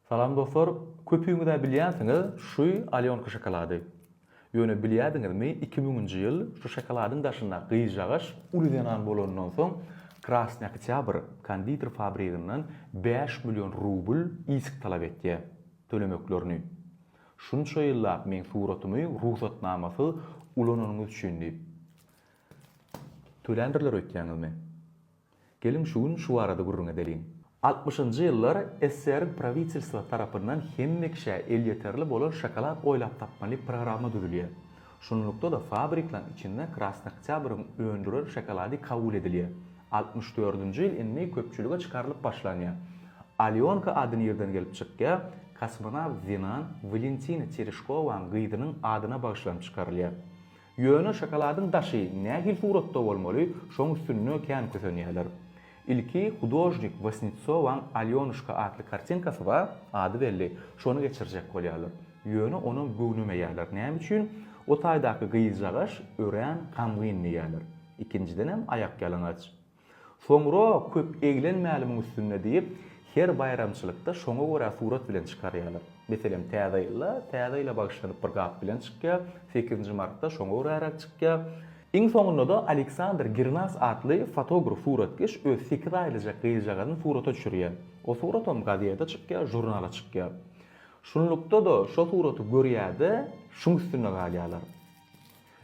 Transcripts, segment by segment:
Salam dostlar, köpüňizä bilýänsiňiz şu Alýonka şokolady. Ýöne bilýädiňizmi iki müňünji ýyl şu şokoladyň daşynda gyzjagaş uly zenan bolanyndan soň Krasny Oktýabr konditer fabriginden bäş million rubl isk talap etýä. Tölemeklerini. Şunça ýyllap meň suratymy rugsatnamasyz ulananyňyz üçin diýip. Töländirler öýtýäňizmi? Geliň şu gün şu barada gürrüň edeliň. Altmyşynjy ýyllar SSR-iň prawitelstwasy tarapyndan hemme kişä elýeterli bolan şokolad oýlap tapmaly programma düzülýär. Şunlukda-da fabriklaryň içinde Krasnoktýabryň öndüren şokolady kabul edilýär. Altmyş dördünji ýyl indi köpçülige çykarylyp başlanýar. Alýonka ady nirden gelip çykýar? Kosmonawt Zinan Walentina Tereşkowanyň gyzynyň adyna bagyşlanyp çykarylýar. Ýöne şokoladyň daşy nähili suratda bolmaly, şoň üstünde kän kösenýärler. Ilki hudožnik Wasnitsowaň Alýonuşka atly kartinkasy bar, ady belli, şony geçirjek bolýarlar. Ýöne onam göwnemeýärler, näme üçin, o taýdaky gyzjagaş örän gamgyn diýýärler. Ikinjidenem aýakýalaňaç. Soňra köp eglenmäli muň üstünde diýip, her baýramçylykda şoňa görä surat bilen çykarýarlar. Meselem, Täze ýylda Täze ýyla bagyşlanyp bir gap bilen çykýar, sekizinji martda şoňa göräräk çykýar. Iň soňunda-da Aleksandr Girnas atly fotograf-suratkeş öz sekiz aýlyjak gyzjagazyny surata düşürýär. O suratam gazete çykýar, žurnala çykýar. Şunlukda-da şo suraty görýär-de, şuň üstünde galýarlar.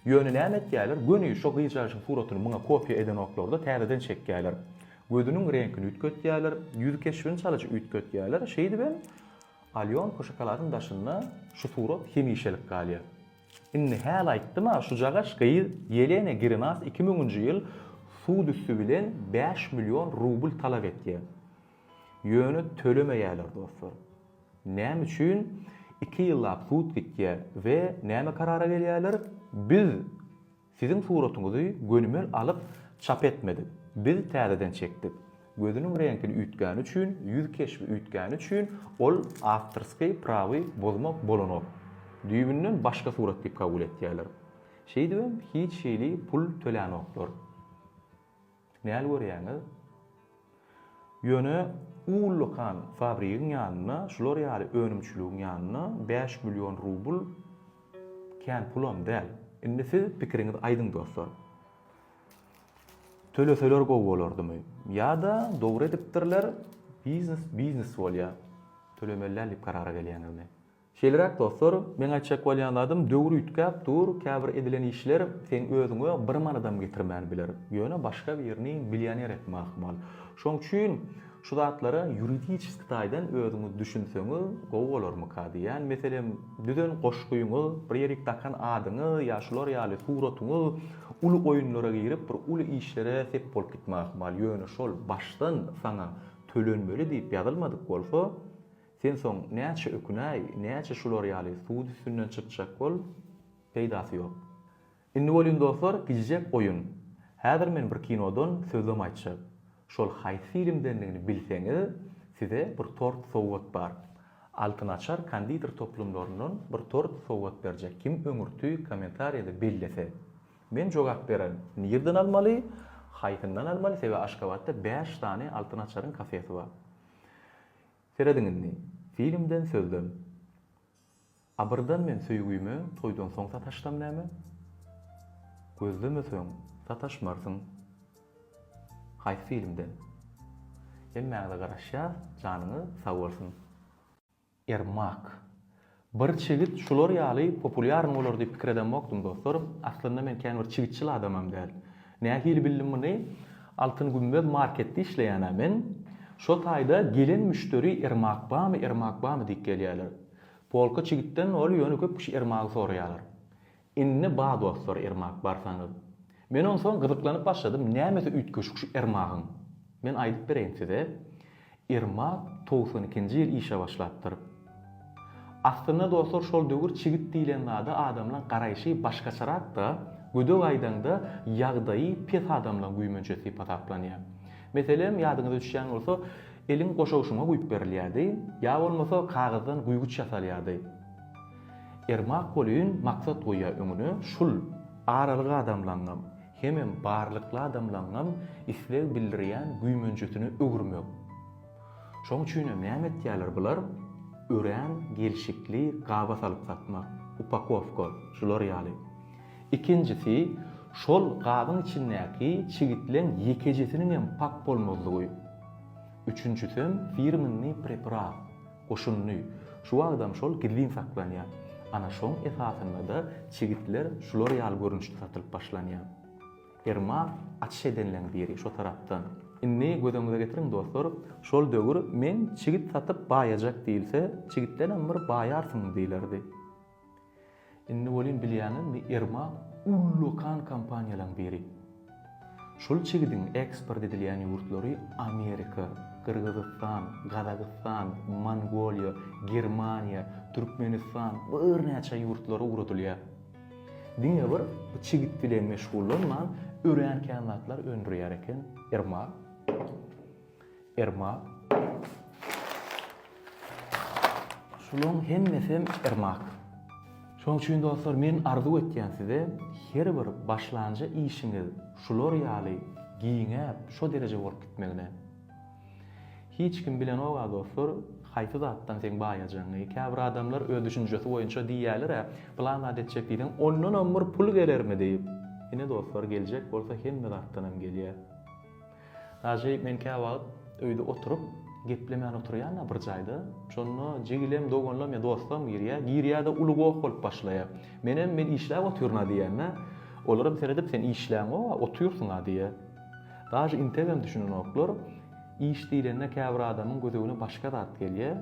Ýöne näme etýäler, göni şo gyzjagaşyň suratyny muňa kopiýa edenoklar-da, täzeden çekýäler. Gözüniň reňkini üýtgetýäler, ýüz keşbini çalyja üýtgetýäler, şeýdibem Alýonka şokoladyň daşynda şu surat hemişelik galýar. Indi häl aýtdym-a, şujagaş gyz Ýelena Girinas iki müňünji ýyl sud üsti bilen bäş million rubl talap etýär. Ýöne tölemeýäler, dostlar. Näme üçin iki ýyllap sud gitýär we näme karara gelýärler? Biz siziň suratyňyzy gönümel alyp çap etmedik. Biz täzeden çekdik. Gözüniň reňkini üýtgäni üçin, ýüz keşbi üýtgäni üçin ol awtorsky prawy bozmak bolanok. Düýbünden başga surat diýip kabul etýärler. Şeýdibem hiç hili pul tölänoklar. Näl görýäňiz? Ýöne ullakan fabrigiň ýanynda, şular ýaly önümçiligiň ýanynda bäş million rubl kän pulam däl. Indi siz pikiriňizi aýdyň dostlar. Töleseler gowy bolardymy? Ýa-da dogry edipdirler, biznes biznes bolýar, tölemeli däl diýip karara gelýäňizmi? Şeýleräk dostlar, meň aýtjak bolýan zadym döwür üýtgäp dur, käbir edilen işler seň özüňe bir manadam getirmän biler, ýöne başga birini millioner etme ahmal. Şoň üçin şu zatlara ýuridiçeski taýdan özüňiz düşünseňiz gowy bolarmyka diýýän. Meselem, düzen goşgyňyz, bir ýerik dakan adyňyz ýa şular ýaly suratyňyz uly oýunlara girip bir uly işlere sep bolup gitme ahmal, ýöne şol başdan saňa tölenmeli diýip ýazylmadyk bolsa, Sen soň näçe ökünäý, näçe şular ýaly sud üstünden çykjak bol, peýdasy ýok. Indi welin dostlar gijjek oýun. Häzir men bir kinodan sözlem aýtjak. Şol haýsy filmdendigini bilseňiz, size bir tort sowgat bar. Altyn açar konditer toplumlaryndan bir tort sowgat berjek kim öňürti kommentariýada bellese. Men jogap bererin. Nirden almaly, haýsyndan almaly, sebäbi Aşgabatda bäş sany Altyn açaryň kafesi bar. Serediň indi, filmden sözlem. Abyrdan men söýgüme toýdan soň sataşsam näme? Gözlemeseň sataşmarsyň. Haýsy filmden? Hemmäňize garaşýas janyňyz sag bolsun. Ermak. Bir çigit şular ýaly populýarny bolar diýip pikir edemokdym dostlar. Aslynda men kän bir çigitçil adamam däl. Nähili bildim muny? Altyn gümmez marketde işleýänä men. Şo taýda gelen müşderi Irmak bamy, Irmak bamy diýip gelýärler. Polka çigitden ol ýöne köp kişi Irmagy soraýarlar. Indi ba dostlar Ermak barsaňyz. Men onsoň gyzyklanyp başladym nämesi üýtgeşik şu Ermagyň? Men aýdyp bereýin size Ermak togsan ikinji ýyl işe başlapdyr. Aslynda dostlar şol döwür çigit diýlen zada adamlaň garaýşy başgaçarakda gödek aýdaňda ýagdaýy pes adamlaň güýmençesi diýip hasaplanýar. Meselem ýadyňyza düşýän bolsa elin goşawşyma guýup berilýärdi ýa bolmasa kagyzdan guýguç ýasalýardy. Ermak welin maksat goýýar öňüne, şul. Aralyk adamlaňňam, hemem barlykly adamlaňňam isleg bildirýän güýmenjesine öwürmek. Şoň üçinem näme etýärler bular? Örän gelşikli gaba salyp satmak, upakowka, şular ýaly. Ikinjisi, şol gabyň içindäki çigitleň ýekejesiniňem pak bolmazlygy. Üçünjisem firmennyý preparat. Goşundy. Şu wagtam şol gizlin saklanýar. Ana şoň esasynda-da çigitler şular ýaly görnüşde satylyp başlanýar. Ferma açyş edenleň biri şo tarapdan. Indi gözüňize getiriň dostlar, şol döwür men çigit satyp baýajak diýilse, çigitdenem bir baýarsyň diýilerdi. Indi welin bilýäňizmi Irmak ullakan kompaniýalaň biri. Şol çigidiň eksport edilýän ýurtlary Amerika, Gyrgyzystan, Gazagystan, Mongoliýa, Germaniýa, Türkmenistan we birnäçe ýurtlara ugradylýar. Diňe bir bu çigit bilen meşgullanman örän kän zatlar öndürýär eken Irmak. Irmak. Şularyň hemmesem irmak. Şonuň üçin dostlar men arzuw etýän size her bir başlanja işiňiz şular ýaly giňäp şo dereje bolup gitmegine. Hiç kim bilenok-a dostlar haýsy zatdan seň baýajagyňy. Käbir adamlar öz düşünjesi boýunça diýýäler-ä plan zat etjek diýseň ondanam bir pul gelermi diýip. Ine dostlar geljek bolsa hemme zatdanam gelýär. Ajy men käwagt öýde oturyp, geplemän oturýan-a bir jaýda, şonda jigilem, doganlam ýa dostlam girýär, girýär-de uly goh bolup başlaýar. Menem, men işläp otyryn-a diýýän-ä. Olaram seredip, sen işläňok-a, otyrsyň-a diýýär. Daže integem düşünenoklar. Iş diýlende käbir adamyň gözegine başga zat gelýär.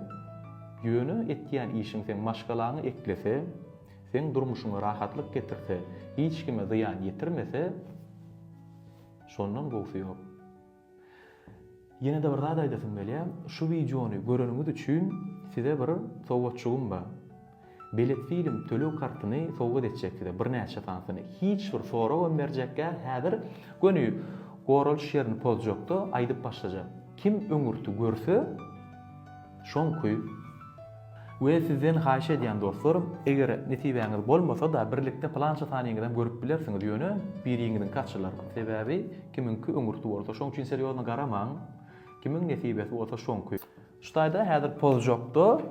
Ýöne etýän işiň seň maşgalaňy eklese, seň durmuşyňa rahatlyk getirse, hiç kime zyýan ýetirmese, Şondan gowsy ýok. Ýene-de bir zat aýdasym gelýär, şu wideony göreniňiz üçin size bir sowgatjygym bar. Belet film töleg kartyny sowgat etjek size, birnäçe sanysyny. Hiç bir soragam berjek däl, häzir göni goralyş ýerini pozjakda aýdyp başlajak. Kim öňürti görse, Şonky we sizden haýyş edýän dostlarym, eger nesibäňiz bolmasa-da birlikde pylança sanyňyzam görüp bilersiňiz, ýöne biriňiziňki açylar. Sebäbi kimiňki öňürti bolsa şoň üçin serýozno garamaň, kimiň nesibesi bolsa şoňky. Şu taýda häzir pozjakda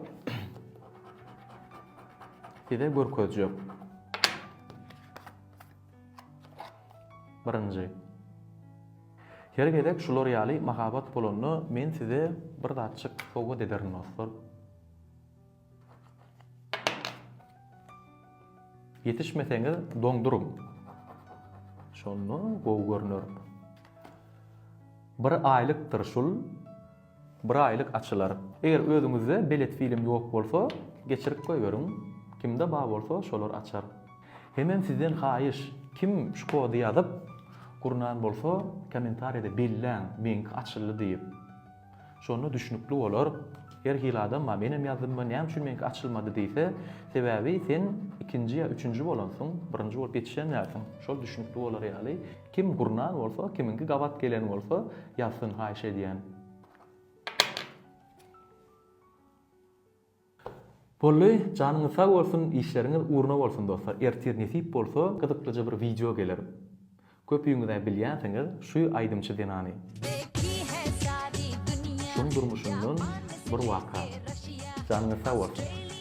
size görkezjek. Birinji. Her gezek şular ýaly mahabat bolanda men size bir zatjyk sowgat ederin dostlar. Ýetişmeseňiz doňduryň. Şonda gowy görner. Bir aýlykdyr şul. Bir aýlyk açylar. Eger özüňizde belet film ýok bolsa, geçirip goýberiň, kimde bar bolsa şolar açar. Hemem sizden haýyş, kim şu kody ýazyp, gurnan bolsa, kommentariýada belläň, meňki açyldy diýip. Şonda düşnükli bolar. Her hili adam bar, menem ýazdymmy, näme üçin meňki açylmady diýse, sebäbi sen ikinji ýa üçünji bolansyň, birinji bolup ýetişen dälsiň. Şol düşnükli bolar ýaly. Kim gurnan bolsa kimiňki gabat gelen bolsa ýazsyn haýyş edýän. Bolly janyňyz sag bolsun işleriňiz uruna bolsun dostlar ertir nesip bolsa gyzyklyja bir wideo geler köpüňizä bilýänsiňiz şu aýdymçy zenany. Şuň durmuşyndan bir waka. Janyňyz sag bolsun.